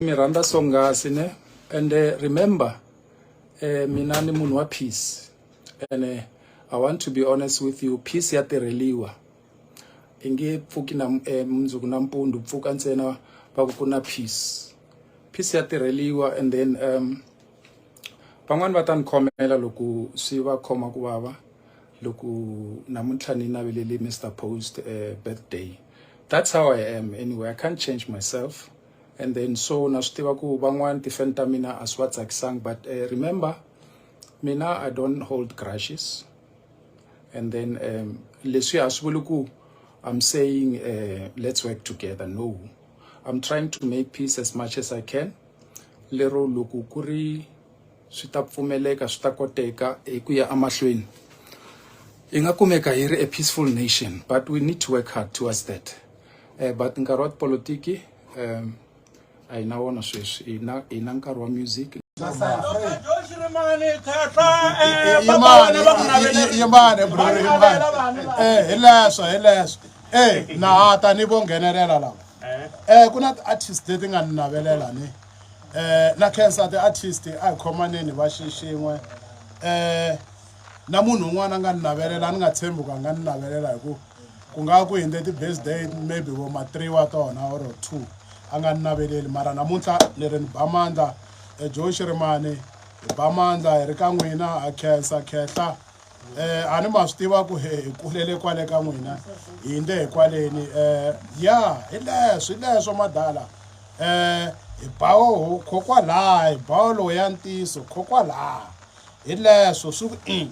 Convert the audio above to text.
mi rhandza swonghasi ne and eh, remember eh, mina ni munhu wa peace and eh, i want to be honest with you peace ya tirheliwa i nge pfuki na eh, mundzuku na mpundu pfuka ntsena va ku ku na peace peace ya tirheliwa and then um van'wani va ta ni khomela loko swi va khoma ku vava loko namuntlha ni navelele mr post uh, birthday that's how i am anyway i can't change myself and then so na swi tiva ku van'wana ti-fan ta mina a swi va tsakisanga but uh, remember mina i don't hold grashes and then um, leswi a swi vuli ku i'm saying uh, let's work together no i'm trying to make peace as much as i can lero loko ku ri swi ta pfumeleka swi ta koteka hi ku ya emahlweni hi nga kumeka hi ri a peaceful nation but we need to work hard towards that um but nkarhi wa tipolotiki um a hi na wona sweswi hi na hi na nkarhi wa music yimani bro yimani eh hileswo hileswo eh na ta ni vo nghenelela lava eh ku na ti-artist leti nga ni navelela ni eh na cancer the artist a hi khomaneni va xixin'we eh na munhu un'wana a nga ni navelela a ni nga tshembi ku a nga ni navelela hi ku ku nga ku hinde ti-birthday maybe vo ma three wa tona or two a nga ni naveleli mara namuntlha ni ri ni ba mandla ejoe xirimani hi ba mandla hi ri ka n'wina ha khensa khehla eh ani ma swi tiva ku he hi kulele kwale ka n'wina hi ndle hi kwaleni eh ya hi leswi leswo madala eh hi bawo khokwalaha hi bawo lowu ya ntiso khokwalaha hi leswo swi ku in